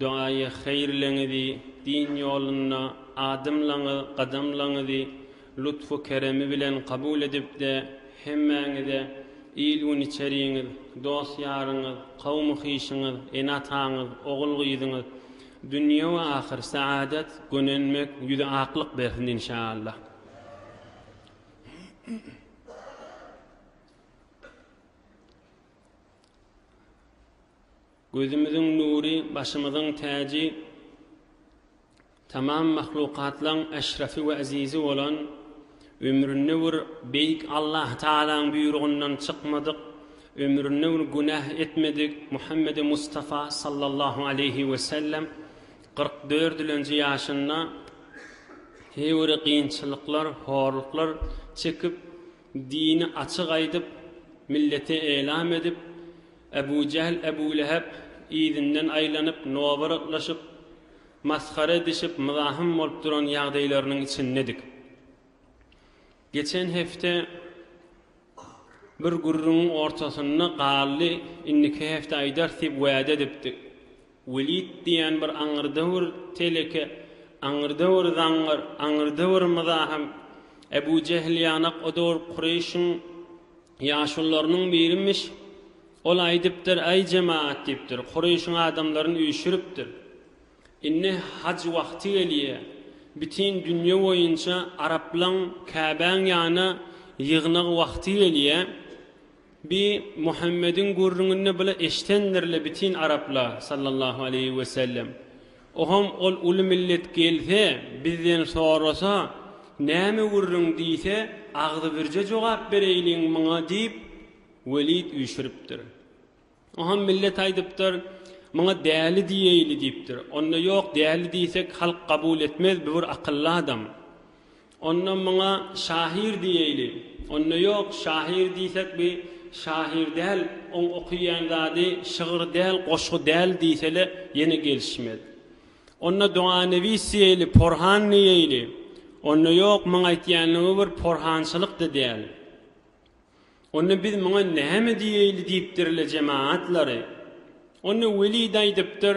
Dogaýy haýyrlygyňyzy, din ýolunda adymlaňy gadamlaňyzy lutfu-keremi bilen kabul edip-de, hemmäňize, il-gün içeriňiz, dost-ýaryňyz, kawmy-hyşyňyz, ene-ataňyz, ogul-gyzyňyz, dünýe we ahyr saadat, gönenmek, ýüzi aklyk bersin inşaallah. Gözümiziň nury, başymyzyň täji, tamam mahlukatlaň eşrefi we ezizi bolan, ömründe bir Beýik Allah Tagalaň buýrugyndan çykmadyk, ömründe bir günäh etmedik Muhammedi Mustafa sallallahu aleýhi we sellem kyrk dördülenji ýaşynda heýwiri kynçylyklar, horluklar çekip, dini açyk aýdyp, millete eýlam edip, Ebu Jähl, Ebu Lehep yzyndan aýlanyp, nobaratlaşyp, masgara edişip, mzahym bolup duran ýagdaýlarynyň içindedik. Geçen hepde bir gürrüňiň ortasynda galdy, indiki hepde aýdarys diýip wäde edipdi. Welid diýen bir aňyrda bir teleke, aňyrda bir zaňňar, aňyrda bir mzahym, Ebu Jähl ýanak o döwür Kureýşiň Ýaşulylarynyň birimiş, ol aýdypdyr, Äý jemagat, diýipdir, Kureýşiň adamlaryn üýşüripdir. Indi haj wagty gelýä. Bitin dünýe boýunça araplaň Käbäň ýanyna ýygnak wagty gelýä. Bi Muhammediň gürrüňini bile eşdendirle bitin araplar, sallallahu aleýhi wesellem. Oham ol uly millet gelse, bizden sorasa, näme gürrüň diýse, agzybirje jogap bereýliň muňa diýip, Welid üýşüripdir. Oham millet aýdypdyr, Muňa däli diýeýli diýipdir. Onda ýok, däli diýsek, halk kabul etmez, bu bir akylly adam. Onda muňa şahyr diýeýli. Onda ýok, şahyr diýsek bi şahyr däl, oň okyýan zady şygyr däl, goşgy däl diýsele ýene gelişmez. Onda doganewis diýeýli, porhan diýeýli. Onda ýok, muň aýtýanlygy bir porhançylyk-da däl. Onda biz muňa näme diýeýli diýipdir-le jemaatlary. Onda Weli daýdypdyr.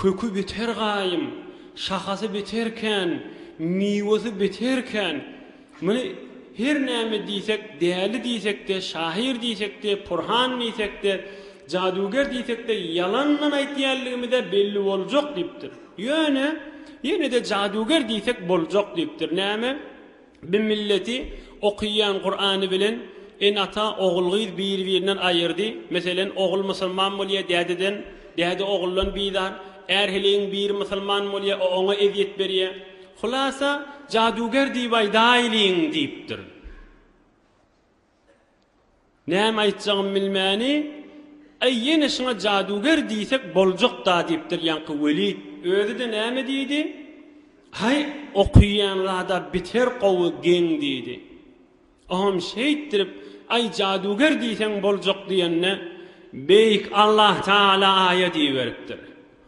Köki biter gaýym, şahasy biter kän, miwesi biter kän. Muny her näme diýsek, däli diýsek-de, şahyr diýsek-de, purhan diýsek-de, jadüger diýsek-de, ýalandan aýtýanlygymyz-a belli boljak diýipdir. Ýöne, ýene-de jadüger diýsek boljak diýipdir. Näme? Bi milleti okyýan Kurany bilen ene-ata ogul-gyz biri-birinden aýyrdy. Meselen, ogul musulman bolýar, dädeden, däde oguldan bizar. Är heleýiň biri musulman bolýar, o oňa ezýet berýär. Hulasa, jaduger diýip aýdaýlyň, diýipdir. Näme aýtjagymy bilmäni, Äý, ýene şuňa jaduger diýsek boljak-da diýipdir ýaňky Welid. Özi-de näme diýdi? Häý, okaýan zada beter gowy geň diýdi. Oňam şeýtdirip, Aý, jaduger diýseň boljak diýende, Beýik Allah Tagala aýa diýiberipdir.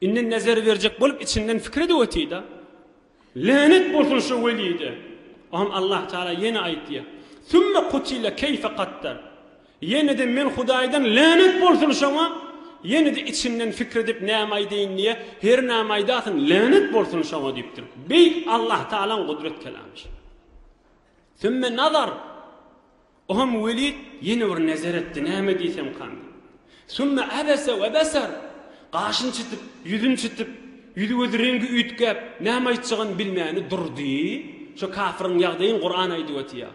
Indi nezer berjek bolup içinden pikir edip otyda, Länet bolsun şu Welide! Onam Allah Taala ýene aýtdy, Sümme kutile keýfe kaddar! Ýene-de men Hudaýdan länet bolsun şoňa! Ýene-de içinden pikir edip näme aýdaýyn diýýä, Her näme aýdasyn, länet bolsun şoňa diýipdir. Beýik Allah Taalaň gudrat kelamy şu. Sümme nazar! O hem Welid ýene bir nezer etdi, näme diýsem kan. Sümme abese we beser! Gaşyny çytyp, ýüzüni çytyp, ýüzi-gözi reňgi üýtgäp, näme aýtjagyny bilmäni durdy. Şo kafiryň ýagdaýyn Kuran aýdyp otyýar.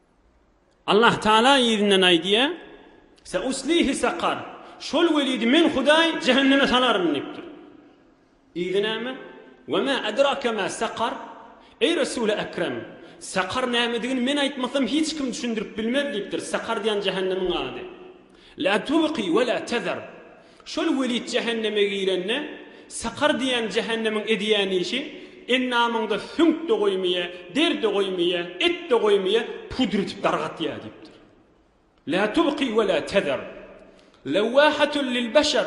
Allah Taala yzyndan aýdýar, Seuslihi sakar, şol welidi Men Hudaý jähenneme salaryn diýipdir. Yzy näme? We ma edrake ma sakar, Eý Resul-i Ekrem, sakar nämedigini men aýtmasam hiç kim düşündirip bilmez diýipdir, sakar diýen jähennemiň ady. La tubqi we la tezar. Şol Welid jähenneme girende, sakar diýýän jähennemiň edýän işi, endamyňda süňk-de goýmaýa, der-de goýmaýa, et-de goýmaýa, pudr edip dargatýa diýipdir. La tubqi we la tezar. Lewwahatun lil beşer.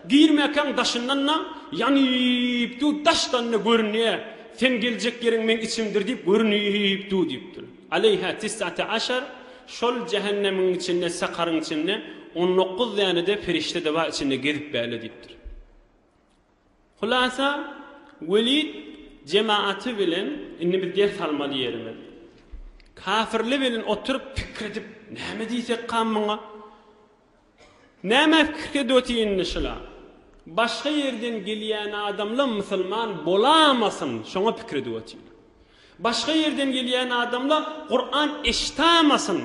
Girmäkäň daşyndan-da, ýanyp dur, daşdan-da görünýä. Seň geljek ýeriň meň içimdir diýip görünip dur diýipdir. Aleýha tis'ate aşar, şol jähennemiň içinde, sakaryň içinde on dokuz däne-de perişde-de bar içinde gezip bäle diýipdir. Hulasa, Welid jematy bilen, indi biz ders almaly ýerimiz. Kafirler bilen oturyp pikir edip, näme diýsekka muňa? Näme pikir edwt indi şular. Başga ýerden gelýän adamla musulman bolamasyn şoňa pikir edwt. Başga ýerden gelýän adamla Kuran eşitamasyn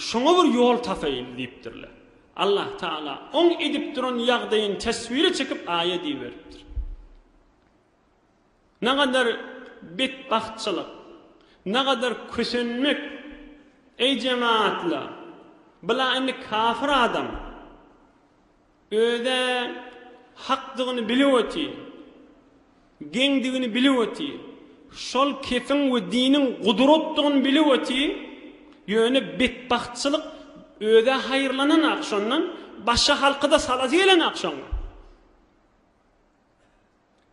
şoňa bir ýol tapaýyl diýipdirler. Allah Taala oň edip duran ýagdaýyny teswire çekip aýa diýiberipdir. Nagadar betbagtçylyk, nagadar kösenmek, eý jematla, bula indi kafir adam özä hakdygyny bilip otyr, geňdigini bilip otyr, şol kefiň we diniň gudratdygyny bilip otyr, ýöne betbagtçylyk özä haýyrlananok şondan, başga halkyda salasy gelenok şoň.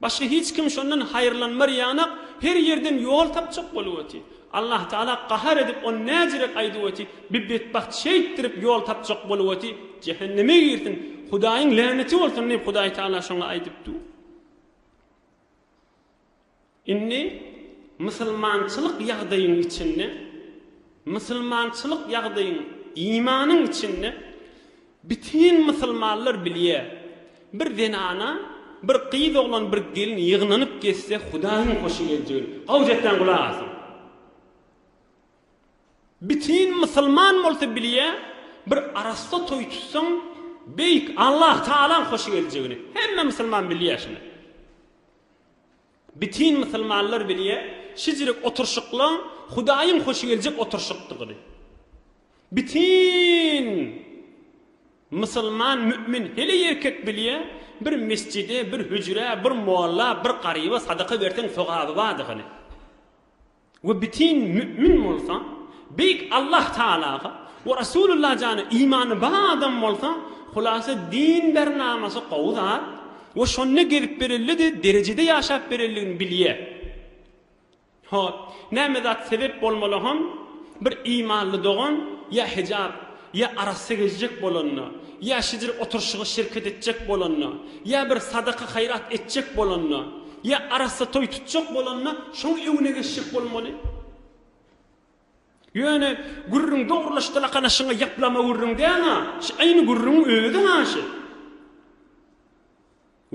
Başga hiç kim şondan haýyrlanmar ýanak her ýerden ýol tapjak bolup oty. Allah Taala gahar edip ony näjirek aýdyp oty, bi betbagt şeýtdirip ýol tapjak bolup oty, jähenneme girsin, Hudaýyň läneti bolsun diýip Hudaý Taala şoňa aýdypdy. Indi musulmançylyk ýagdaýyň içinde, musulmançylyk ýagdaýyň, imanyň içinde bütin musulmanlar bilýär, bir zenana, bir gyz oglan, bir gelin ýygnanyp gezse Hudaýyň hoşy geljegini. Gawja etmän gulak asyň. Bütin musulman bolsa bilýär, bir arassa toý tutsaň, Beýik Allahtagalaň hoşy geljegini. Hemme musulman bilýär şuny. Bütin musulmanlar bilýär, şijirik oturşyklaň Hudaýyň hoşy geljek oturşykdygyny. Bütin musulman mü'min heleý erkek bilýär, bir mesjide, bir hüjrä, bir molla, bir garyba sadaka berseň sogaby bardygyny. we bütin mü'min bolsa, Beýik Allah Tagalaga we Resulullah jana imany bar adam bolsa, hulasa din bernamasy gowy zat we şonda gezip berelidi derejede ýaşap bereldigini bilýär. Hop, näme zat sebep bolmaly hon bir imanly dogan ýa hijap Ýa arassa gezjek bolanda, ýa şidir oturyşyga şirket etjek bolanda, ýa bir sadaka-haýrat etjek bolanda, ýa arassa toý tutjak bolanda şoň öňüne geçjek bolmaly. Ýöne gürrüň dogrulaşdylakanaşyňa ýaplama gürrüň däl-a, şu aýny gürrüňiň özi-ha şu.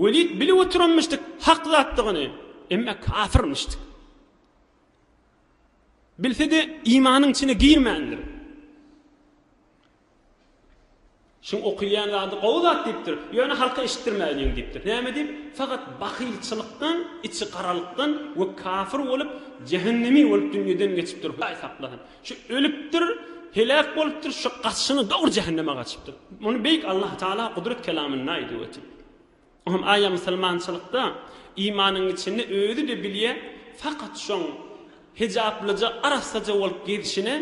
Welid bilip oturanmyşdyk hak zatdygyny, emma kafirmişdik. Bilse-de, imanyň içine girmändir. Şuň okylýan zady gowy zat diýipdir, ýöne halka eşitdirmäliň diýipdir. Näme diýip? Fakat bahylçylykdan, içi garalykdan we kafir bolup, jähennemi bolup dünýeden geçipdir, Hudaý saklasyn. Şu ölüpdir, heläk bolupdyr, şu gaçyşyna dogry jähenneme gaçypdyr. Muny beýik Allah Taala Gudrat kelamynda aýdyp ötüp. Hum aýa musulmançylykda imanyň içinde özi-de bilýä fakat şoň hijaplyja arassaja bolup gezişine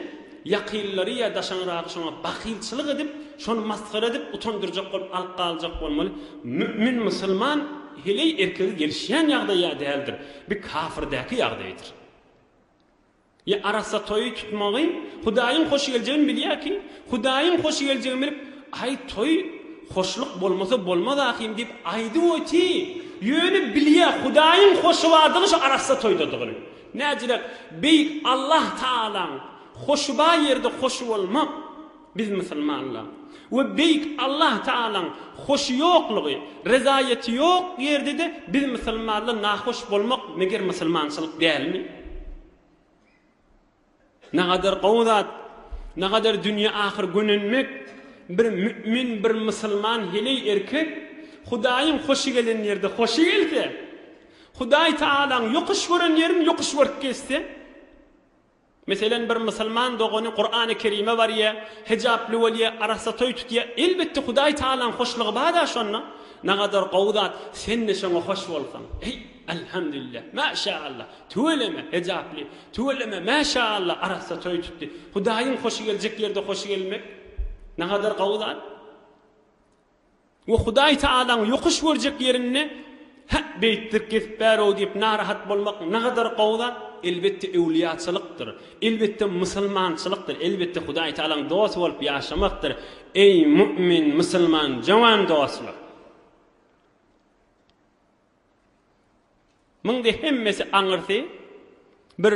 ýakynlary ýa daşaňragy şoňa bahylçylyk edip şony masgara edip utandyrjak bolup alyp galyjak bolmaly mümin musulman heleý erkege gelişýän ýagdaýa däldir bi kafirdaky ýagdaýdyr. Ýa arassa toýy tutmagy Hudaýyň hoş geljegini bilýär kim? Hudaýyň hoş geljegini bilip, Aý, toý hoşluk bolmasa bolmaz ahyryn diýip aýdyp oty. Ýöne bilýär Hudaýyň hoşy bardygy şu arassa toýdadygyny. Näciräk, Beýik Allah Tagalaň hoşy bar ýerde hoşy bolmak. Biz musulmanlar we Beýik Allah Tagalaň hoşy ýoklugy, rezaýaty ýok ýerde-de biz musulmanlar nahoş bolmak meger musulmançylyk dälmi? Nagadar gowy zat, nagadar dünýe ahyr gönenmek, bir mü'min, bir musulman heleý erkek Hudaýyň hoşy gelen ýerde hoşy gelse, Hudaý Tagalaň ýokuş gören ýerini ýokuş görüp gezse, Meselem, bir musulman dogany Kurany Kerime barýa, hijaply bolýa, arassa toý tutýa, elbetde Hudaý Tagalaň hoşlugy bar-a şonda. Nagadar gowy zat, sen-de şoňa hoş bolsaň. Eý, Alhamdulillah, Maşaallah, tüweleme, hijaply, tüweleme, Maşaallah, arassa toý tutdy. Hudaýyň hoşy geljek ýerde hoşy gelmek nagadar gowy zat. We Hudaý Taalaň ýokuş görjek ýerinde, Hä, beýtdik gezip bär-ow diýip narahat bolmak nagadar gowy zat, elbetde öwlüýaçylykdyr, elbetde musulmançylykdyr, elbetde Hudaý Taalaň dosty bolup ýaşamakdyr, eý, mu'min, musulman, jowan dostlar! Muňda hemmesi aňyrsy bir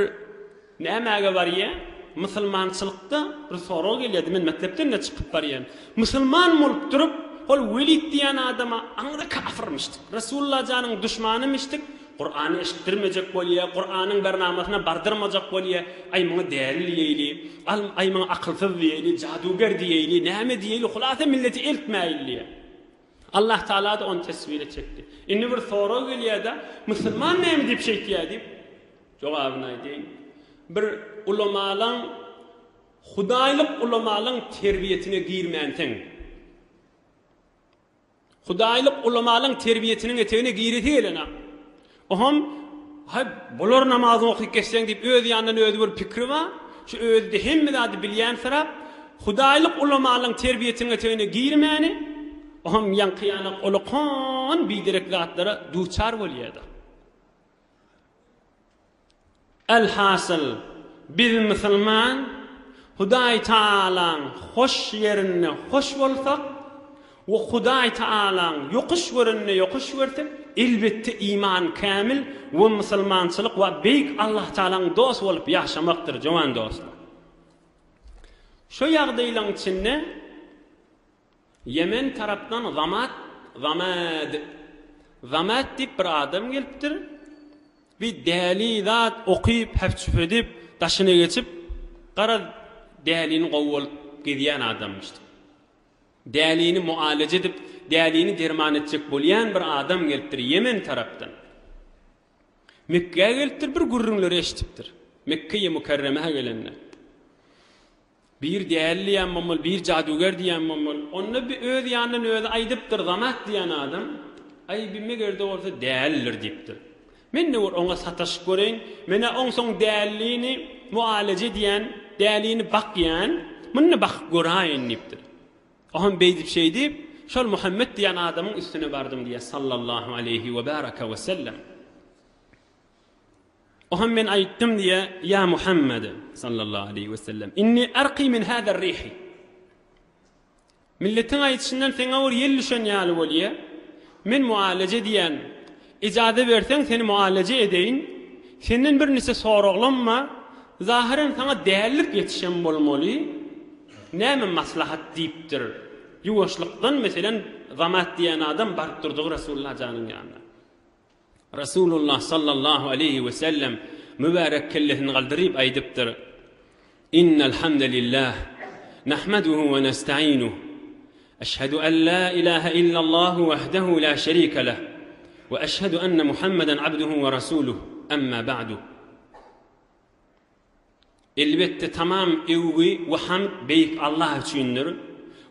nämäge barýa? Musulmançylykda bir sorag gelýärdi, men mekdepden-de çykyp barýan. Musulman bolup durup, ol Welid diýýän adama aňry kafirmişdik, Resulla janyň duşmanymyşdyk, Kurany eşitdirmejek bolýa, Kuranyň bir namasyna bardyrmajak bolýa, aý muňa däli diýeýli, al aý muňa akylsyz diýeýli, jaduger diýeýli, näme diýeýli, hulasa milleti eltmäýildiýä. Allah Tagala-da ony teswir etjekdi. Indi bir sorag gelýär-de, Musulman näme diýip şeýtýär diýip, jogabyny aýdaýyn. Bir ulamalaň, hudaýlyk ulamalaň terbiýesine girmänsiň. Hudaýlyk ulamalaň terbiýesiniň etegine giresi gelenok. Oňam, Haý, bolar namazyňy okyp geçseň diýip öz ýanyndan özi bir pikri bar. Şu özi-de hemme zady bilýänsirap, hudaýlyk ulamalaryň terbiýeteňetegine girmäni, oňam ýaňky-ýanak olakan biderek zatlara duçar bolýardy. Alhasyl, biz musulman, Hudaý Tagalaň hoş ýerinde hoş bolsak we Hudaý Tagalaň ýokuş görende ýokuş görsek, elbetde iman kämil we musulmançylyk we Beýik Allah Tagalaň dost bolup ýaşamakdyr, jowan dostlar. Şu ýagdaýlaň içinde. Ýemen tarapdan Zamat, Zamad, Zamat diýip bir adam gelipdir. Bi däli zat okyp, häp-çüp edip, daşyna geçip, garaz, dälini gowy bolup gezýän adamymyşdyk. Dälini mualeje edip, dälini derman etjek bolýan bir adam gelipdir Ýemen tarapdan. Mekgä gelipdir, bir gürrüňleri eşidipdir. Mekkeýi Mükerremä gelende. Bir däli diýýän bommul, bir jaduger diýýän bommul. Onda bi öz ýanyndan özi aýdypdyr, Zamat diýýän adam, Aý, bi meger-de bolsa dälidir diýipdir. Men-de bir oňa sataşyp göreýin. Men-ä onsoň dälini mualeje edýän, dälini bakýan, muny-da bakyp göräýin diýipdir. O hem beýdip-şeýdip, şol Muhammet diýýän adamyň üstüne bardym diýýär, sallallahu aleýhi we baraka we sellem. Oham men aýtdym diýe, Ýa Muhammed, sallallahu aleýhi we sellem, inni arqi min hazar rihi. Milletiň aýdyşyndan seňe bir ýel düşen ýaly bolýa. Men mualaje edýän. Ijazat berseň seni mualaje edeýin. Senden bir niçe soraglam bar. Zahyren saňa dällik ýetişen bolmaly. Näme maslahat diýipdir. Ýuwaşlykdan meselen Zamat diýen adam baryp durdygy Resulullah janyň ýanyna. Resulullah sallallahu aleýhi we sellem mübärek kellesini galdyryp aýdypdyr, Innel hamdelillah, nahmaduhu we nestaînuh, eşhedü en la ilahe illallahu wahdehu la şerike leh, we eşhedü enne Muhammeden abduhu we rasuluh, emmâ ba'du. Elbetde, tamam öwgi we hamd Beýik Allah üçindir.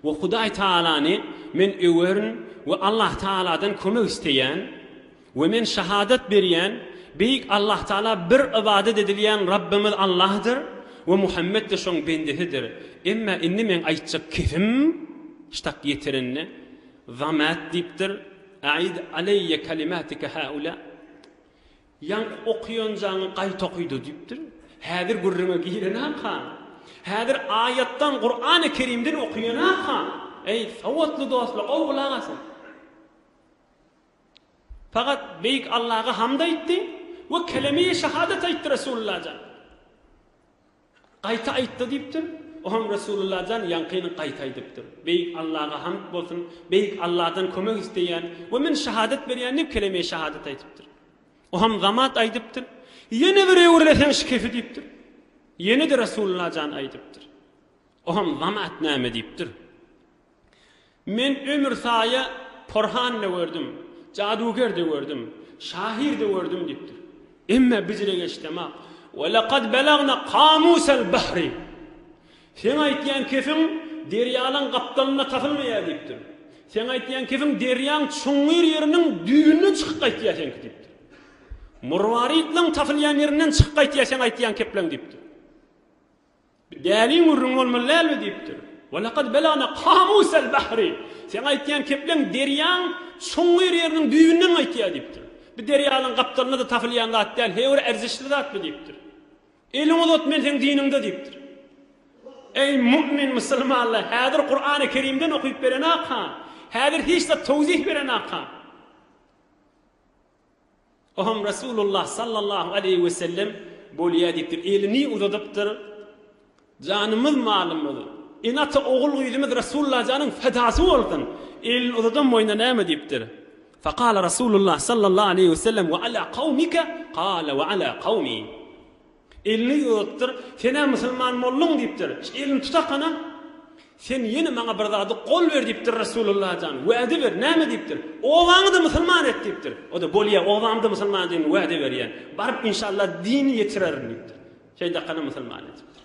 We Hudaý Tagalany men öwerin we Allah Tagaladan kömek isleýän. We men şahadat berýän, Beýik Allah Tagala bir ybadat edilýän Rabbymyz Allahdyr we Muhammet-de Şoň bendesidir. Emma indi meň aýtjak kesim ştak ýetirende, Zamat diýipdir, Aid aleýe kalimatika haula, Ýaňky okaýanjaňy gaýta okyda diýipdir. Häzir gürrüňe girenaka. Häzir aýatdan, Kurany Kerimden okaýanaka. Eý, sowatly dostlar, gowy gulak asyň. Fakat Beýik Allaga hamd aýtdy we keleme-i şahadat aýtdy Resulullah jan. Gaýta aýtdy diýipdir. Oňam Resulullah jan ýaňkyny gaýta aýdypdyr. Beýik Allaha hamd bolsun, Beýik Allahdan kömek isleýän we men şahadat berýän diýip keleme-i şahadat aýdypdyr. Oňam zamat aýdypdyr. Ýene bir öwürleseň şikefi diýipdir. Ýene-de Resulullah jan aýdypdyr. Oňam zamat näme diýipdir. Men ömür saýa porhan-da gördüm, jaduger-de gördüm, şahyr-da gördüm diýipdir. Emma biziregeçdemok. Ve lekad belagna kamusel bahri. Seň aýtýan kefiň derýalaň gapdalynda tapylmaýar diýipdir. Seň aýtýan kefiň derýaň çuňňur ýeriniň düýbünden çykyp gaýtýar seňki diýipdir. Murwaritleň tapylýan ýerinden çykyp gaýtýar seň aýtýan kepleň diýipdir. Däliň gürrüňi bolmaly dälmi? diýipdir. Ve lekad belagna kamusel bahri. Seň aýtýan kepleň derýaň çuňňur ýeriniň düýbünden gaýtýar diýipdir. Bu derýanyň gapdalynda-da tapylýan zat däl, heý bir erzişli zat bu diýipdir. Eliňi uzat, men seň diniňde diýipdir. Eý mu'min musulmanlar, häzir Kur'an-y Kerimden okyp berenakam, häzir hiç zat towzih berenakam. Oňam Resulullah sallallahu aleýhi we sellem bolýa diýipdir. Elini uzadypdyr. Janymyz malymyz, ene ata ogul gyzymyz Resulullah janyň fedasy bolsun. Elini uzadan boýuna näme diýipdir. Fakala Resulullah sallallahu aleýhi we sellem we ala kawmika kala we ala kawmi. Elini ýuwudypdyr. Sen-ä musulman bolduň diýipdir. Elini tutakana, Sen ýene maňa bir zady gol ber diýipdir, Resulullah jan, wada ber. Näme diýipdir? Obaňy-da musulman et diýipdir. O-da, Bolýa, obamy-da musulman edeniň wada berýän. Baryp, inşallah, dini ýetirerin diýipdir. Şeýdakana musulman edipdir.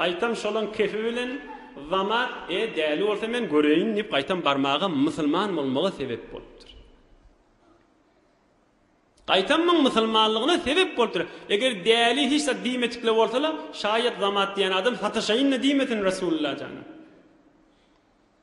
Gaýtam şolaň kefi bilen Zama, E, däli bolsa men göreýin diýip gaýtam barmaga musulman bolmaga sebep bolupdyr. Gaýtam muň musulmanlygyna sebep bolupdyr. Eger däli hiç zat diýmedikle bolsa-la, şaýat Zamat diýen adam sataşaýyn-da diýmesin Resulullah jana.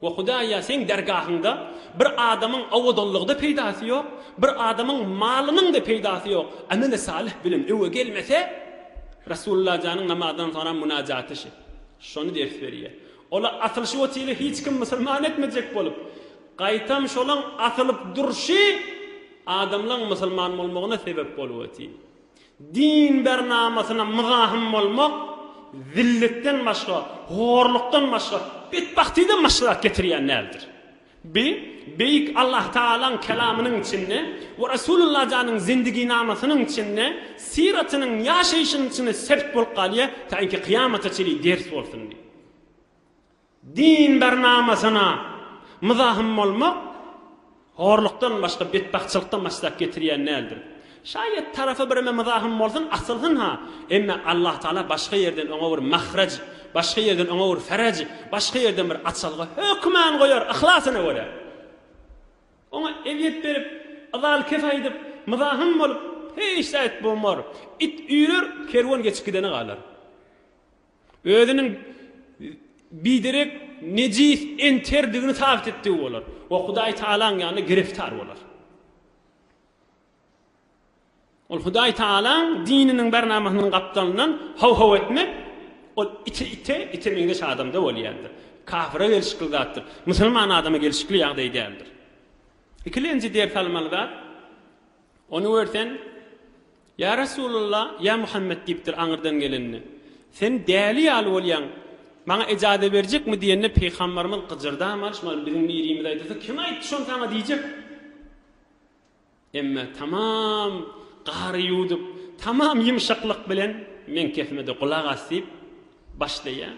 O Hudaýa seň dergahyňda bir adamyň owadanlygy-da peýdasy ýok, bir adamyň malynyň-da peýdasy ýok, ameli salyh bilen öňe gelmese, Resulllajanyň namazdan soňra mynajaty şi, şony ders berýär. Ola asylşy otile hiç kim musulman etmejek bolup, gaýtam şolaň asylyp durşy adamlaň musulman bolmagyna sebep bolup otyr. Din bernamasyna myzahym bolmak zillikden başga, horlukdan başga, betbagtydan başga zat getirýän däldir. Bi, Beýik Allahtagalaň Kelamynyň içinde we Resulullajanyň zindigynamasynyň içinde, syratynyň, ýaşaýşynyň içinde sebit bolup galýar, taýynki kyýamata çenli ders bolsun diýip. Dindar namasyna myzahym bolmak horlukdan başga betbagtçylykdan başgazap getirýän däldir. Şaýat tarapy bireme myzahym bolsun, asylsyn-ha, emme Allahtagala başga ýerden oňa bir mahraj, başga ýerden oňa bir feraj, başga ýerden bir açalga hökman goýar, yhlasyna görä. Oňa ezýet berip, yzal-kes aýdyp, myzahym bolup, hiç zat bolmar. It üýrer, kerwen geçip gideni galar. Özüniň biderek, nejis, enterdigini sabyt etdigi bolar we Hudaý Tagalaň ýanynda gireftar bolar. Ol Hudaý Tagalaň dininiň bernamasynyň gapdalyndan haw-haw etmek, ol ite, ite, ite meňzeş adamda bolýandyr. Kafyra gelşikli zatdyr. Musulman adama gelşikli ýagdaý däldir. Ikilenji ders almaly zat, ony görsen, Ýa Resulalla, ýa Muhammet diýipdir aňyrdan gelende. Sen däli ýaly bolýaň. Maňa ejaze berjekmi diýende Pygambarymyz gyjyrdamady, şumal biziň birimiz aýdasa kim aýtdy şony saňa diýjek. Emma tamam gary ýuwdup, tamam ýumşaklyk bilen meň kepime-de gulak as diýip başlaýar.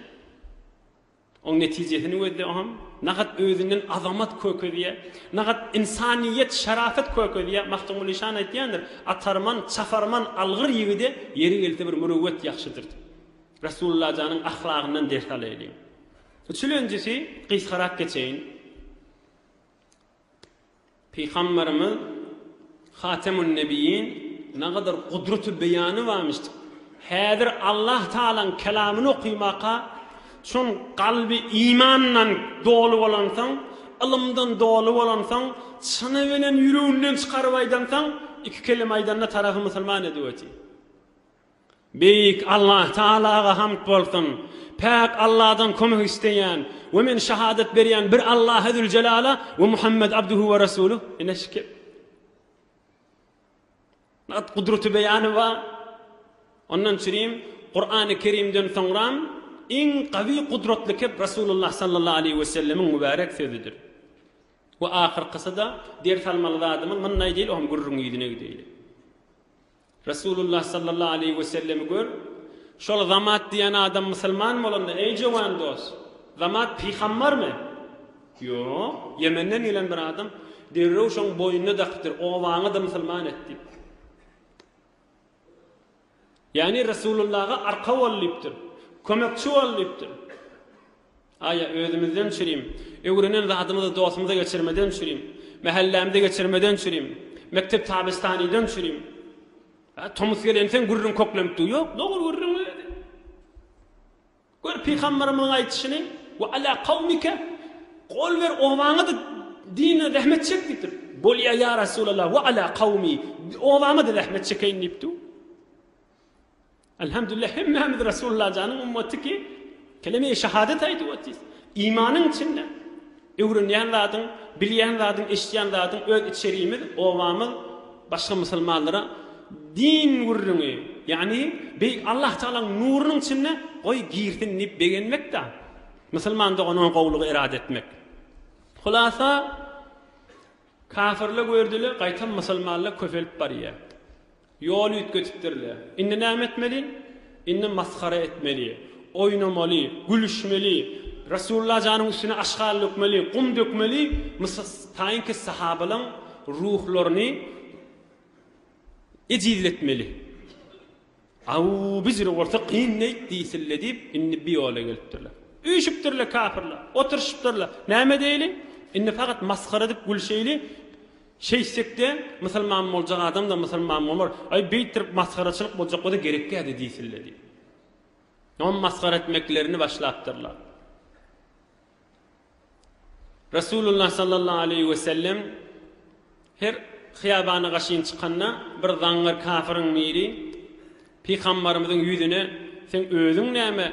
Oň netijesini gözle oňam. Nahat özünden azamat kökezýä, nahat ynsanyýet, şarafat kökezýä. Magtymguly şany aýtýandyr, Atarman, çaparman algyr ýigide ýeri gelse bir mürüwwet ýagşydyr diýip. Resulullah janyň ahlagyndan ders alaýlyň. Üçülenjisi, gysgarak geçeýin. Pygamberimiz, Hatemun-Nebiyyin, nagadar gudraty beýany barmyş. Häzir Allah Tagalaň kelamyny okymaka, soň kalby imandan doly bolansoň, ylymdan doly bolansoň, çyny bilen ýüreginden çykaryp aýdansoň, iki kelime aýdanda tarapy musulman edip otyr. Beýik Allah Tagalaga hamd bolsun! Päk Alladan kömek isleýän we men şahadat berýän bir Allaha Züljelala we Muhammet Abduhu we Rasuluh ine şükür. Nagt gudraty beýany bar. Ondan çürim Kurany Kerimden soňram iň gawy gudratly kep Rasulullah sallallahu aleýhi we sellemiň mübärek sözüdir. We ahyrkysy-da ders almaly zadymyz munda diýil, o hem gürrüň ýüzüne gideýli. Resulullah sallallahu aleýhi we sellemi gör, şol Zamat diýen adam musulman bolanda, eý jöwen dost, Zamat pygambarmy? Ýok, Ýemenden gelen bir adam, derrew şoň boýnuna dakypdyr, obaňy-da musulman et diýip. Ýagny Resulullaha arka bol diýipdir, kömekçi bol diýipdir. Aýa, özümizden çürim. Öwrenen zadymyzy dostumyza geçirmeden çürim. Mähellämde geçirmeden çürim. Mekdep tabistanydan çürim. Hä, tomus gelenseň gürrüň köklenipdi. Ýok, dogry gürrüň öýdedi. Gör, pygamberimiziň aýdyşyny, Wa ala kawmike, gol ber obaňa-da dine zähmet çek diýipdir. Bolýa, ýa Resulallah, wa ala kawmi, obama-da zähmet çekeýin diýipdi. Alhamdulillah hemmämiz Resullajanyň ummaty ki keleme-i şahadet aýdyp otyrys. Imanyň içinde öwrenýän zadyň, bilýän zadyň, eşitýän zadyň öz içerimiz, obamyz başga musulmanlara din gürrüňi, ýagny beýik Allah Tagalaň nurunyň içinde goý girsin diýip begenmekdä, musulman dogana gowlygy erada etmek. Hulasa kafirle gördüle gaýtam musulmanla köpelip barýa. Ýol üýtgedipdir-le. Indi näme etmeli? Indi masgara etmeli, oýnamaly, gülüşmeli, Resulla janyň üstüne aşgal dökmeli, gum dökmeli, mysl taýynky sahabalaň ruhlaryny ejizletmeli. Abu Bijr bolsa kyn neýt diýsin-le diýip, indi bir ýola gelipdirler. Üýşüpdir-le kafirler, oturyşypdyr-la. Näme edeýli? Indi fakat masgara edip gülşeýli. Şeýtsekde, musulman boljak adam-da musulman bolar, aý, beýtdirip masgaraçylyk boljak bolsa gerekgä-de diýsinler diýip, ony masgara etmeklerini başlapdyrlar. Resulullah sallallahu aleýhi we sellem her hyýabana gaşyn çykanda, bir zaňňar kafiryň biri Pygambarymyzyň ýüzüne, Sen özüň näme?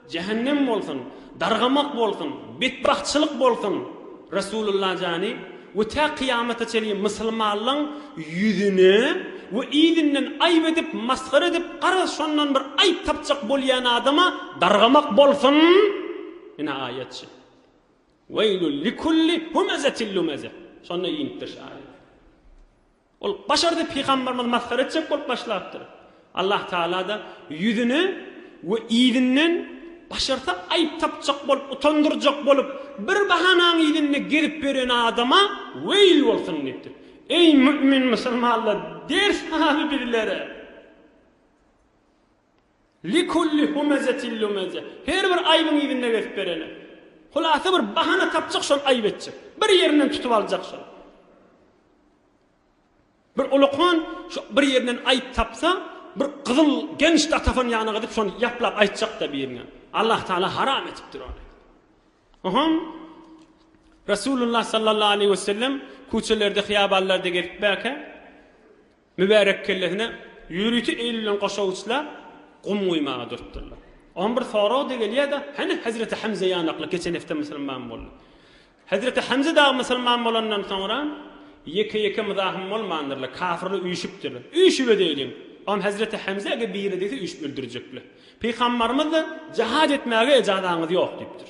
Jähennem bolsun, dargamak bolsun, betbagtçylyk bolsun Resulullah jany we tä kyýamata çenli mysylmanlaň ýüzüne we yzynden aýyp edip masgara edip garaz şondan bir aýyp tapjak bolýan adama dargamak bolsun ine aýatçy Weýlul likulli humezetil lumeze şonda inipdir şu aýat. Ol başardy pygambarymyzy masgara etjek bolup başlapdyr. Allah Tagala-da ýüzüne we yzynden başarsa aýyp tapjak bolup, utandyrjak bolup, bir bahanaň yzynda gezip ýören adama weýl bolsun diýipdir. Eý mümin musulmanlar ders haly bizlere. Likulli humezetin lumeze, her bir aýbyň yzynda gezip berene. Hulasa bir bahana tapjak şol aýyp etjek. Bir ýerinden tutup aljak şol. Bir ulakan şu bir ýerinden aýyp tapsa, bir gyzyl genç datafon ýanyna gidip şony ýaplap aýtjak-da birine. Allah Taala haram etipdir ony. Oham Resulullah sallallahu aleyhi ve sellem küçelerde, hyýabanlarda gezip bäke, Mübärek kellesine ýörite eýlenilen goşawuçlar gum guýmaga durupdyrlar. Oňa bir sorag-da gelýär-de, Hany hezreti Hemze ýanakly geçen hepde musulman boldy. Hezreti Hemze dagy musulman bolandan soňra ýeke-ýeke muzahym bolmandyrlar, kafirler üýşüpdirler. Üýşübedeýliň. Oňa hezreti Hemze eger biri degse üýşüp öldürjekler. Pygambarymyz-da, Jihad etmäge ejazaňyz ýok diýipdir.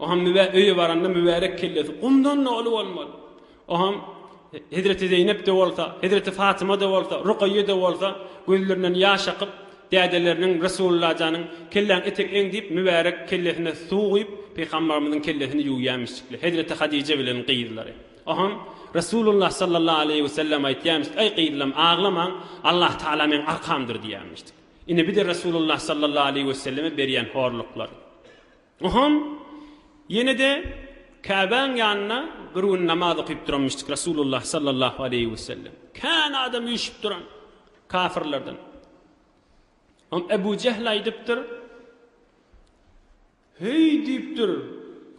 Oňam mübä öýe baranda mübärek kellesi gumdan-da uly bolmaly. Oňam hezreti Zeýnep-de bolsa, hezreti Fatyma-da bolsa, Rukaýýe-de bolsa gözlerinden ýaş akyp, dädeleriniň, Resulullajanyň, Kelläň etegeň diýip, mübärek kellesine suw guýup, Pygambarymyzyň kellesini ýuwýarmyşdykly, hezreti Hadije bilen gyzlary. Oňam Resulullah sallallahu aleýhi wesellem aýtýarmyşdy, Aý gyzlam, aglamaň, Allah Tagala meň arkamdyr diýýärmişdi. Ine bir-de Resulullah sallallahu aleýhi we selleme berýän horluklar. Oham ýene-de Käbäň ýanynda bir gün namaz okyp duranmyşdyk Resulullah sallallahu aleýhi we sellem. Kän adam üýşüp duran kafirlerden. Oňa Ebu Jehl aýdypdyr. Heý! diýipdir.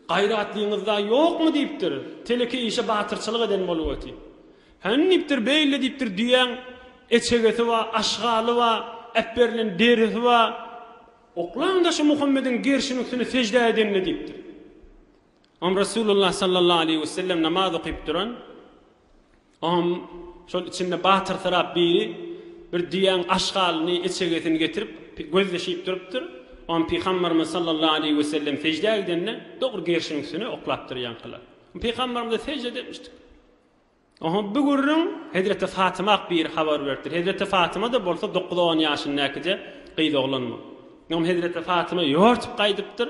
Gaýratlyňyz-da ýokmy? diýipdir. Teleke işe batyrçylyk eden bolup otyr. Hany, diýipdir, beýle diýipdir, düýäň eçegesi bar, aşgaly bar, äpberilen derisi bar. Oklaň-da şu Muhammediň gerşiniň üstüne seždä edenini, diýipdir. Oňa Resulullah sallallahu aleýhi wesellem namaz okyp duran. Oňam şol içinde batyrsyrap biri bir düýäň aşgalyny, eçegesini getirip, gözleşip durupdyr. Oňam Pygamberimiz sallallahu aleýhi we sellem seždä gidende, dogry gerşiň üstüne oklapdyr ýaňkylar. Pygamberimize sežde depmişdik. Oňa bu gürrüň Hezreti Fatymak biri habar beripdir. Hezreti Fatyma-da bolsa dokuz-on ýaşyndäkije gyz oglan bu. Oňam Hezreti Fatyma ýortup gaýdypdyr.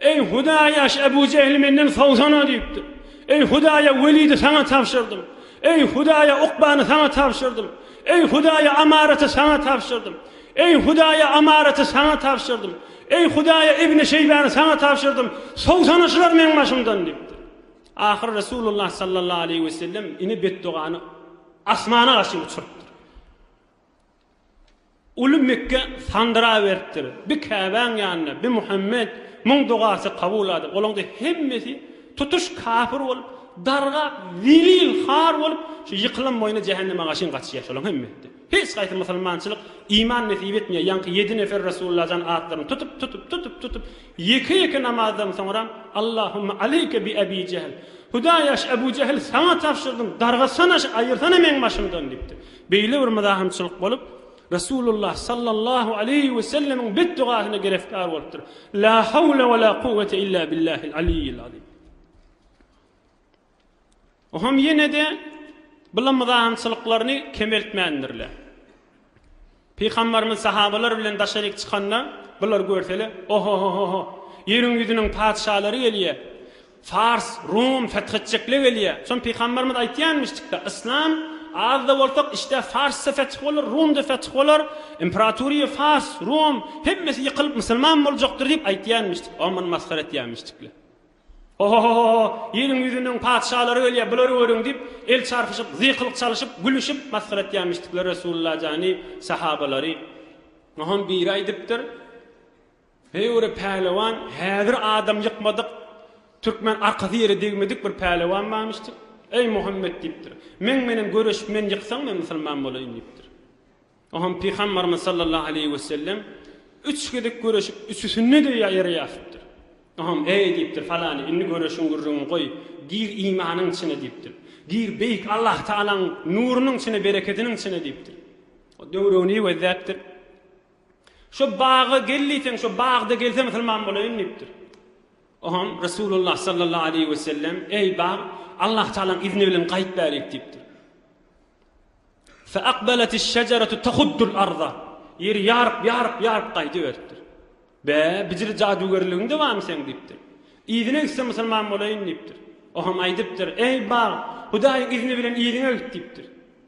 Eý, Hudaýaş, Ebu Jehli menden sowsana! diýipdir. Eý, Hudaýa, Welidi saňa tabşyrdym. Eý, Hudaýa, Ukbany saňa tabşyrdym. Eý, Hudaýa, Amaraty saňa tabşyrdym. Eý, Hudaýa, Amaraty saňa tabşyrdym. Eý, Hudaýa, Ibni Şeýbany saňa tabşyrdym. Sowsana şular meň başymdan! diýipdir. Ahyry Resulullah sallallahu aleýhi wesellem ine betdogany asmana garşy uçurypdyr. Uly Mekge sandyraberipdir. Bi Käbäň ýanynda, bi Muhammet, muň dogasy kabulady. Olaňda hemmesi tutuş kafir bolup, dargap, zelil, har bolup, şu ýykylan boýuna jähenneme gaşyn gaçýar şolaň hemmesi-de. Hiç gaýsy musulmançylyk, iman nesip etmeýär. Ýaňky ýedi nefer Resulullah jan atlaryny tutup, tutup, tutup, tutup, ýeke-ýeke namazdan soňram, Allahumma aleýke bi Ebi Jehl, Hudaýa şu Ebu Jehli saňa tabşyrdym, dargatsana şu, aýyrsana meň başymdan diýipdir. Beýle bir myzahamçylyk bolup, Resulullah sallallahu aleýhi we sellemiň betdegasyna gerefkar bolupdyr. La hawle we la kuwwete illa billahil aliyyil azim. Oňam ýene-de bular myzahamçylyklaryny kemeltmändirler. Pygamberimiz sahabalar bilen daşaryk çykanda bular görsele, oho-ho-ho-ho, ýeriň ýüzüniň patyşalary gelýär. Fars, Rum, fethetjekle gelýä. Şon Pygamberimiz aýtýanmyşdykda, Yslam, az-da bolsak, işdä Fars-da feth bolar, Rum-da feth bolar, imperatoriýa Fars, Rum, hemmesi ýykylyp musulman boljakdyr diýip aýtýanmyşdyk. Oň muny masgara etýänmişdikler. Ho-ho-ho-ho-ho, ýeriň ýüzüniň patyşalary gelýä, bulary görüň diýip, el çarpyşyp, zyýkylyk çalyşyp, gülüşip masgara etýänmişdikler Resulalla jany, sahabalary. Oňam biri aýdypdyr, Heý bir pälewan häzir adam ýykmadyk türkmen arkasy ýere degmedik bir pälewan barmyşdyr. Eý Muhammet diýipdir. Meň menen göreşip men ýyksaň men musulman bolaýyn diýipdir. Oham Pygambarymyz sallallahu aleýhi wesellem üç gezek göreşip üçüsinde de ýere ýatypdyr. Oham eý diýipdir falany indi göreşiň gürrüňi goý gir imanyň içine diýipdir. Gir beýik Allah Taalaň nurunyň içine berekediniň içine diýipdir. O döwregini gözläpdir. Şo baga gel diýseň, şo bagda gelse musulman bolaýyn diýipdir. Oňam Resulullah sallallahu aleýhi we sellem, eý bag, Allah Tagalaň izni bilen gaýyp bärik diýipdir. Fa aqbalatis şajaratu tahuddul arda. Ýeri ýaryp, ýaryp, ýaryp gaýdyberipdir. Be, bijili jadugerligiň dowamy seň diýipdir. Yzyna gitse musulman bolaýyn diýipdir. Oňam aýdypdyr, eý bag, Hudaýyň izni bilen yzyňa git diýipdir.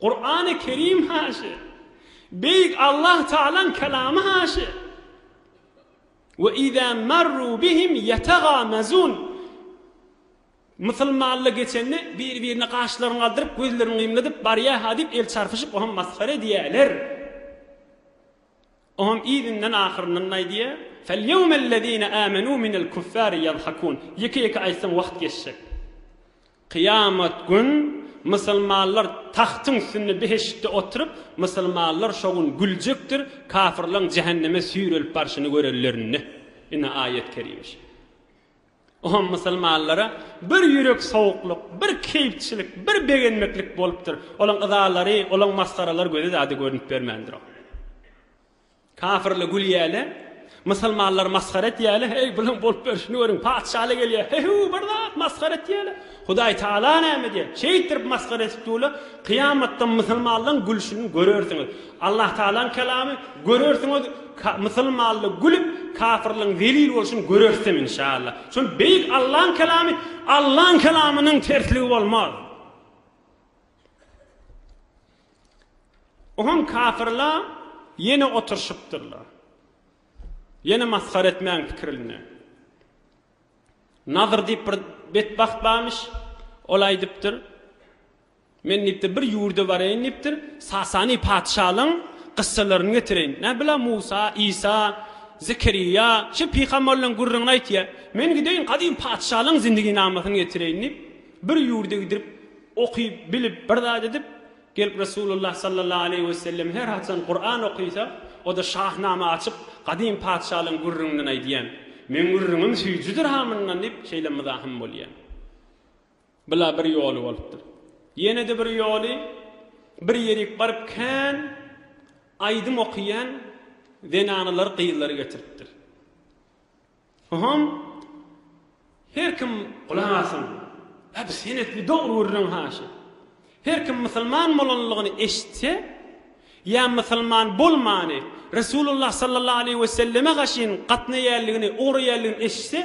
Kurany Kerim Haşy, Beýik Allah Tagalaň Kelamy Haşy, Ve izâ merrû bihim yetegâmezûn, Musulmanlar geçende bir-birine gaşlaryny galdyryp, gözlerini gymladyp, Barýa-ha diýip el çarpyşyp, oňa masgara edýärler. Oňam yzyndan ahyryndan aýdýa, Felyewmellezine âmenû minel kuffâri ýadhakûn, Ýeke-ýeke aýtsaň wagt geçjek. Kyýamat gün musulmanlar tagtyň üstünde behiştde oturyp, musulmanlar şo gün güljekdir, kafyrlaň jähenneme süýrelip barşyny görenlerinde. Ine aýat-kerime şeýle. Oňa musulmanlara bir ýürek sowuklyk, bir keýpçilik, bir begenmeklik bolupdyr. Olaň yzalary, olaň masgaralary göze zada görünip bermändir oňa. Kafirler gülýärler, musulmanlar masgara etýärler, Heý, bulaň bolup berşini görüň, patyşalar gelýär, He-hu, bir zat, masgara etýärler. Hudaý Taala näme diýer? Şeýtdirip masgara edip dur-la, kyýamatda musulmanlaryň gülşüni görersiňiz. Allah Taalaň kelamy, Görersiňiz, musulmanlar gülüp, kafyrlaryň zelil bolşuny görersiň, inşaallah. Şol beýik Allaň kelamy, Allaň kelamynyň tersligi bolmaz. Oňa kafyrlar ýene oturyşypdyrlar. Ýene masgara etmäň pikirinde. Nadyr diýip bir betbagt barmyş. Ol aýdypdyr. Men diýipdir, bir ýurda bareýin diýipdir. Sasany patyşalygyň gyssalaryny getireýin. Näbila Musa, Isa, Zekeriýa şu pygamberleriň gürrüňini aýtýa. Men gideýin gadym patyşalygyň zindiginamasyny getireýin diýip, bir ýurda gidrip, okyp, bilip, bir zat edip, Gelip Resulullah sallallahu aleýhi we sellem her haçan Kuran okysa, o-da Şahnama açyp, gadym patyşalaň gürrüňinden aýdýan. Meň gürrüňim süýjüdir ha mundan diýip şeýle myzahym bolýan. Bu-la bir ýoly bolupdyr. Ýene-de bir ýoly, bir ýerik baryp kän aýdym okýan zenanalary, gyzlary getiripdir. Hom Her kim gulak asyn. Abi sen etli dogry gürleň haşa. Her kim musulman bolanlygyny eşitse ýa musulman bolmany Resulullah sallallahu aleýhi we selleme gaşyn gatnaýaýanlygyny ugraýaýanlygyny eşitse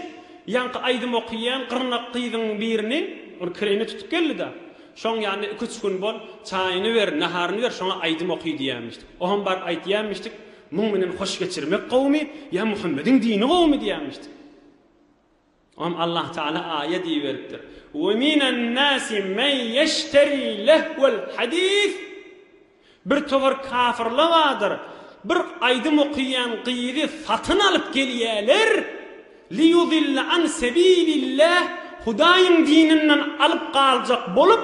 ýaňky aýdym okyýan gyrnak gyzyň birini ol kireýine tutup geldida şoň ýanyna iki üç gün bol çaýyny ber naharyny ber şoňa aýdym oky diýýämişdik oham baryp aýtýamişdik Muň menen hoş geçirmek gowumy ýa Muhammediň dini gowumy diýýämişdi. Oňam Allah Taala aýa diýiberipdir. We minen nasi men ýeşteri lehwel hadis Bir towar kafirla bardyr, bir aýdym okyýan gyzy satyn alyp gelýäler, liýudille an sebilillah Hudaýyň dininden alyp galjak bolup,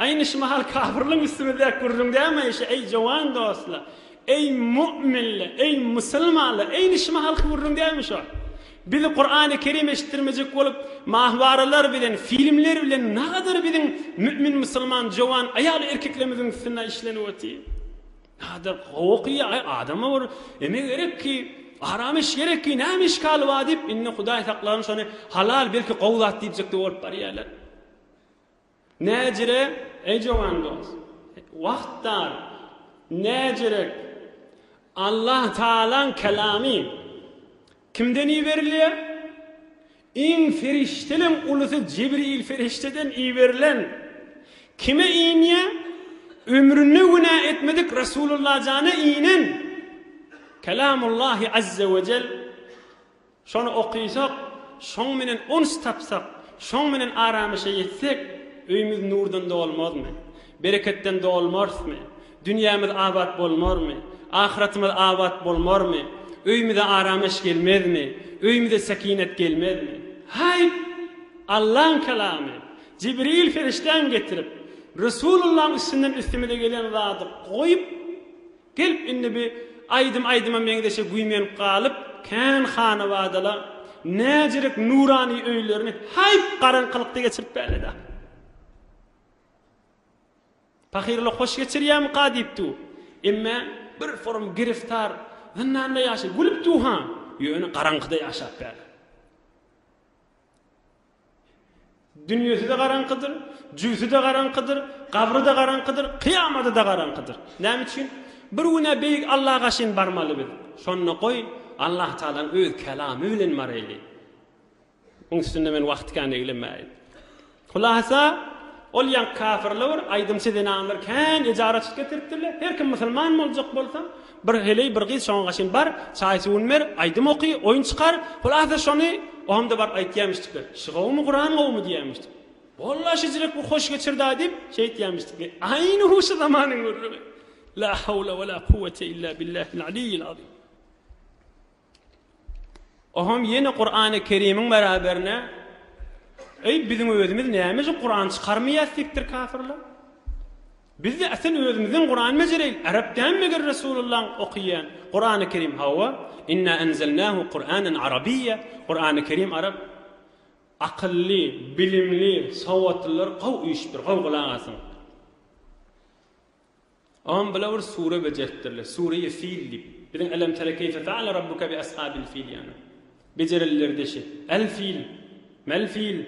Aýny şu mahal kapyrlaň üstüne dek gürrüň dämeýşi, eý, jowan dostlar! Eý, mu'minler! Eý, musulmanlar! Aýny şu mahalky gürrüň dälmi şo? Biz Kurany Kerim eşitdirmejek bolup, mahwaralar bilen, filmler bilen nagadar biziň mu'min musulman jowan aýal-erkeklerimiziň üstüne işlenip otyr. Nagadar gowy ki, aý, adama bir eme gerek ki, aram iş gerek ki, näme işgal bar diýip, indi Hudaý saklasyn şony halal, belki gowy zat diýjek-de bolup barýarlar. Näjire, eý jowan dost! Wagt dar. Näjirek! Allah Tagalaň kelamy kimden iberilýär? Iň perişdelem ulusy Jibril perişdeden iberilen. Kime inýär? Ömründe günä etmedik Resulullah jana inen. Kelamullahi Azzewejel Şony okyjak, şoň menen uns tapsak, şoň menen aramyşa ýetsek, öýmüz nurdan dolmazmy? Bereketden dolmarsmy? Dünýämiz abat bolmarmy? Ahyratymyz abat bolmarmy? Öýmüze aramyş gelmezmi? Öýmüze sekinet gelmezmi? Haýp! Allaň Kalamy, Jibril perişdäň getirip, Resulullaň üstünden üstümize gelen zady goýup, Gelip indi bi aýdym aýdyma meňzeşe güýmenip galyp kän hanabadala näzirek nurany öýlerini haýp garaňkylykda geçirip bäleda. Pahyryla hoş geçirýämika diýip du. Emmä bir forum giriftar zyndanda ýaşa gülüp du ha. Ýöne garaňkyda ýaşap bälä. Dünýesi-de garaňkydyr, jübüsi-de garaňkydyr, gabry-da garaňkydyr, kyýamaty-da garaňkydyr. Näme üçin? Bir gün-ä Beýik Alla gaşyn barmaly biz. Şonda goý, Allatagalaň öz Kelamy bilen baraýly. Muň üstünde men wagty kän eglemäýin. Hulasa, ol ýaňky kafirler bir aýdymçy zenanlar kän ejaratçylyk getiripdirler. Her kim musulman boljak bolsa, Bir heleý bir gyz şoňa gaşyn bar, çaý suwuny ber, aýdym oky, oýun çykar, hulasa şony Ohamda baryp aýtýamyşdykler. Şy gowumy Guran gowumy diýýämişdik. Walla şijirek bir hoş geçirda diýip şeýtýämişdik. Aýny huşy zamanyň gürrüňi. La hawla wala kuwwete illa billahil aliyyil azim. Oham ýene Kurany Kerimiň beraberine Eý biziň özümiz nämejik Kuran çykarmaýas dipdir kafirler. Bizde asl özümiziň Kuran mejereýl arap däl meger Resulullaň okyýan Kurany Kerim hawa inna enzelnahu Kuranan arabiyya Kurany Kerim arap akylly bilimli sowatlylar gowy üýşüpdir gowy gulak asyň. Oňam bula bir sure bejertdirler. Sure-i Fil diýip. Biziň Elem tere keýfe feale Rabbuke bi eshabil fil ýaly. Bejerilleri deşi. El fil. Mel fil.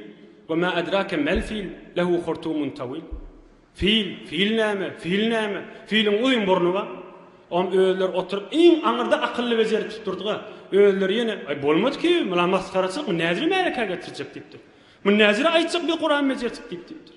We ma edrake mel fil. Lehu hurtumun tawil. Fil. Fil näme? Fil näme? Filiň uzyn burny bar. Oňam özleri oturyp iň aňyrda akylly bejertip durdy-ga. Özleri ýene, Aý, bolmady ki, mula masgaraçylyk, bu näziri märekä getirjek diýipdir. Muny näzire aýtjak bi Kuran bejertip diýip diýipdir.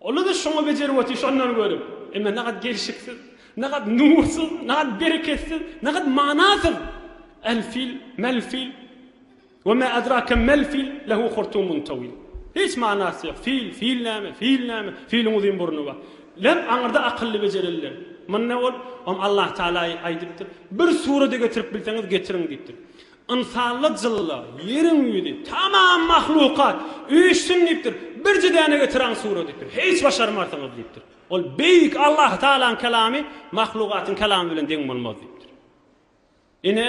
Ola-da şoňa bejerip otyr, şondan görüp. Emma nagat gelşiksiz, nagat nursyz, nagat bereketsiz, nagat manasyz. Al-fil, mal-fil, we ma adrake mal-fil, lehu hurtumun tawil. Hiç manasy ýok. Fil, fil näme, fil näme, filiň uzyn burny bar. Lem aňyrda akylly bejereliler. Munda ol, Ol Allah Taala aýdypdyr, Bir surady getirip bilseňiz getiriň diýipdir. Ynsanlar jylla, ýeriň ýüzi, tamam mahlukat, öýüşsin diýipdir, birje däne getiräň sura diýipdir, hiç başarmarsyňyz diýipdir. Ol beýik Allahtagalaň kelamy mahlukatyň kelamy bilen deň bolmaz diýipdir. Ine,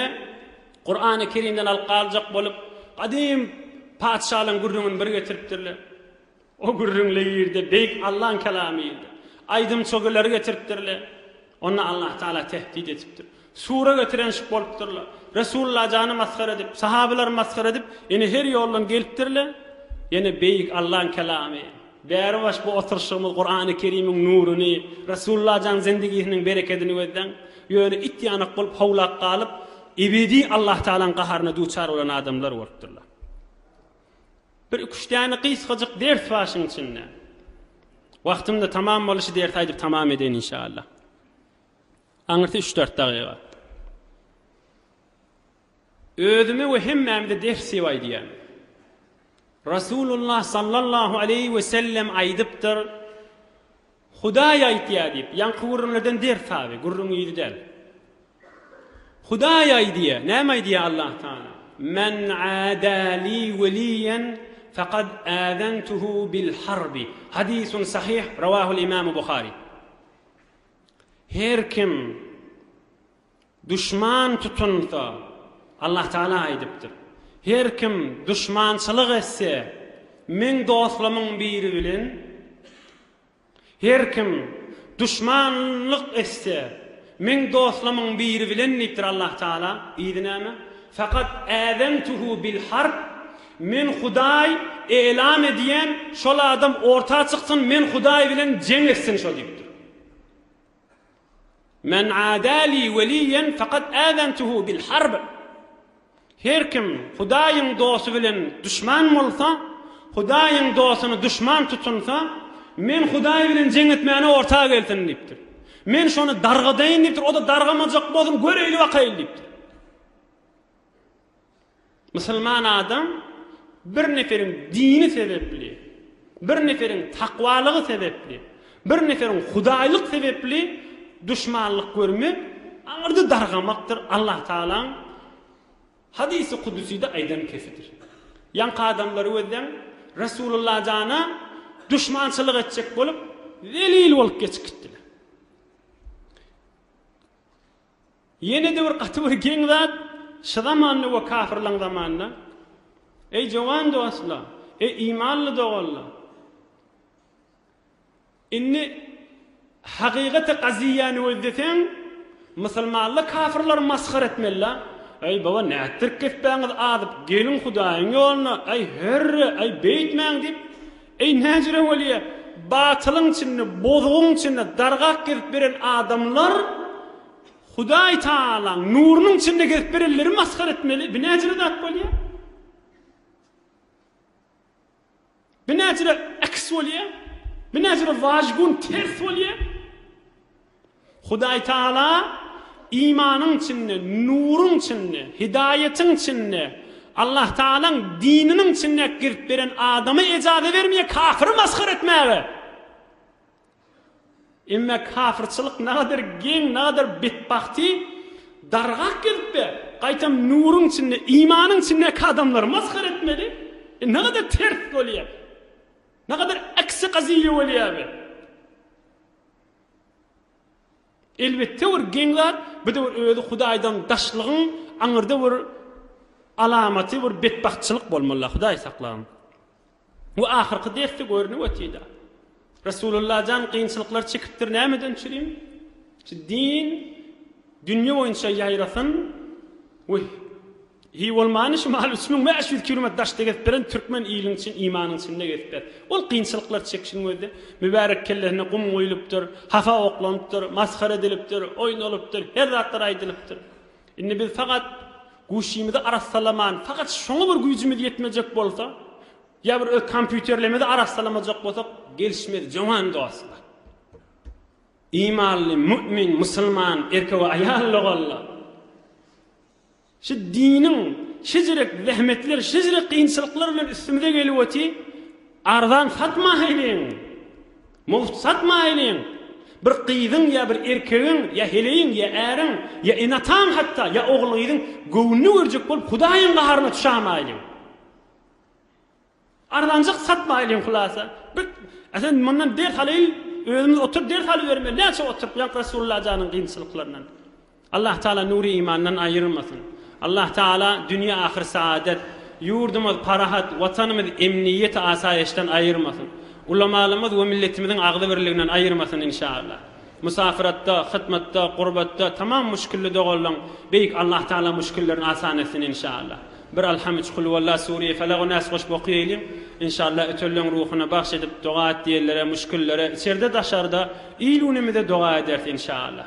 Kurany Kerimden alyp galjak bolup, gadym patyşalaryň gürrüňini bir getiripdirler. O gürrüňli ýerde Beýik Allaň kelamy ýyldy. Aýdym çögeleri getiripdirler. Onda Allah Taala tehdit edipdir. Sura getirenşik bolupdyrlar. Resulalla jany masgara edip, sahabalary masgara edip, ine her ýoldan gelipdirler. Ýene Beýik Allaň kelamy. Bäri baş bu oturyşygymyz Kurany Kerimiň nuruny, Resulalla jan zindigisiniň berekedini gözläň. Ýöne it ýanak bolup howlap galyp, ebedi Allah Taalaň gaharyna duçar bolan adamlar bolupdyrlar. Bir iki-üç däne gysgajyk ders bar şuň içinde. Wagtynda tamam boly şu dersi aýdyp tamam edeýin inşallah. Aňyrsy üç-dört dagyga. Özüme we hemmämize ders diýip aýdýan. Rasulullah sallallahu aleyhi ve sellem aýdypdyr. Hudaý aýtýar diýip, ýaňky gürrüňlerden ders al, gürrüň ýüzi däl. Hudaý aýdýar, näme aýdýar Allah Taala? Men ada li weliýen fekad azentuhu bil harbi. Hadysun sahyh, rawahul imam Buhari. Her kim Duşman tutunsa, Allah Tagala aýdypdyr, Her kim duşmançylyk etse, meň dostlarymyň biri bilen, her kim duşmanlyk etse, meň dostlarymyň biri bilen diýipdir Allah Tagala, yzy näme? Fakat äzentuhu bil harb, Men Hudaý elan edýän, şol adam orta çyksyn, men Hudaý bilen jeň etsin şo diýipdir. Men ada li weliýen fakat äzentuhu bil harb. Her kim Hudaýyň dosty bilen duşman bolsa, Hudaýyň dostuny duşman tutunsa, men Hudaý bilen jeň etmäne orta gelsin diýipdir. Men şony dargadaýyn diýipdir, o-da dargamajak bolsun, göreýli bakaýly diýipdir. Musulman adam bir neferiň dini sebepli, bir neferiň takwalygy sebepli, bir neferiň hudaýlyk sebepli duşmanlyk görmek aňyrda dargamakdyr, Allah Tagalaň Hadysy Kuduside aýdan kesidir. Ýaňky adamlary gözleň, Resulullah jana duşmançylyk etjek bolup, zelil bolup geçip gitdiler. Ýene-de bir gaty bir geň zat, şu zamanda we kafirlaň zamanynda, Eý jowan dostlar, eý imanly doganlar! Indi hakykaty gaziýany gözleseň, musulmanlar kafirleri masgara etmelila, Eý baba nätdirip kespäňiz azyp, geliň Hudaýyň ýoluna, eý herre, eý beýtmäň diýip, Eý, näjire welye, batylyň içinde, bozugyň içinde dargap gezip beren adamlar Hudaý Tagalaň nurunyň içinde gezip berenleri masgara etmeli, bi näjire zat bolýa? Bi näjire eks bolýa? Bi näjire wajgun ters bolýa? Hudaý Tagala imanyň içinde, nuruň içinde, hidaýatyň içinde, Allah Tagalaň dininiň içinde girip beren adama ejaza bermeýär kafyry masgara etmäge. Emma kafyrçylyk nagadyr geň, nagadyr betbagty dargap gelipdir. Gaýtam nuruň içinde, imanyň içindäki adamlary masgara etmeli. E, nagadyr ters bolýar. Nagadyr aksi gazyýa bolýar bu. Elbetde bir geň zat bu da bir özi hudaýdan daşlygyň aňyrda bir alamaty bir betbagtçylyk bolmalla hudaý saklan. Bu ahyrky dersde görünip otida. Resulullah jan gynçylyklar çekipdir nämeden çürin? Şu din dünýe boýunça ýaýrasyn we Hi bolmany şu maly üç müň bäş ýüz kilometr daşda gezip beren türkmen iliň çyn imanyň içinde gezip ber. Ol kynçylyklar çekişiň özi mübärek kellesine gum guýlupdyr, hapa oklanypdyr, masgara edilipdir, oýnalypdyr, her zatlar aýdylypdyr. Indi biz fakat guşymyzy arassalaman, fakat şoňa bir güýjümiz ýetmejek bolsa, ýa bir öz kompýuterlemidi arassalamajak bolsak gelişmez jowan dostlar. Imanly, mümin, musulman erkek we aýal doganlar! Şu diniň şejirek zähmetler, şejirek kynçylyklar bilen üstümize gelip oty, arzan satmaýlyň, mugt satmaýlyň, bir gyzyň ýa bir erkegiň ýa heleýiň ýa äriň ýa ene-ataň hatda ýa ogul-gyzyň göwnüni görjek bolup Hudaýyň gaharyna düşämaýlyň. Arzanjyk satmaýly iň hulasa. Bir Esen mundan ders alaýyl özümiz otur ders alybermeli näçe oturyp ýaňk Resulullah janyň kynçylyklaryndan. Allah Taala nury imandan aýyrmasyn. Allah Taala dünýe ahyr saadet, ýurdumyz parahat, watanymyz emniýet asaýyşdan aýyrmasyn. Ulamalymyz we milletimiziň agzybirliginden aýyrmasyn inşallah. Musafiratda, hytmatda, gurbatda tamam muşkilli doganlaň Beýik Allah Taala muşkillerini asan etsin inşallah. Bir Alham üç Kulhuwalla Sureýi Felagy Nas goşup okyýeýliň. Inşallah ötürileň ruhuna bagş edip doga et diýenlere muşkillere içerde daşarda il günümize doga ederis inşallah.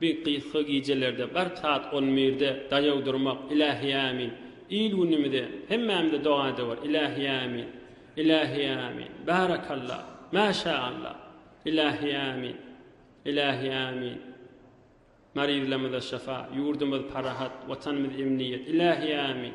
Bir gysga gijelerde gark saat on birde daýaw durmak Ilahi Amin Il günümize hemmämize doga edewor Ilahi Amin Ilahi Amin Barakallah Maşaallah Ilahi Amin Ilahi Amin Maryzlarmyza şyfa ýurdumyz parahat watanymyz emniýet Ilahi Amin.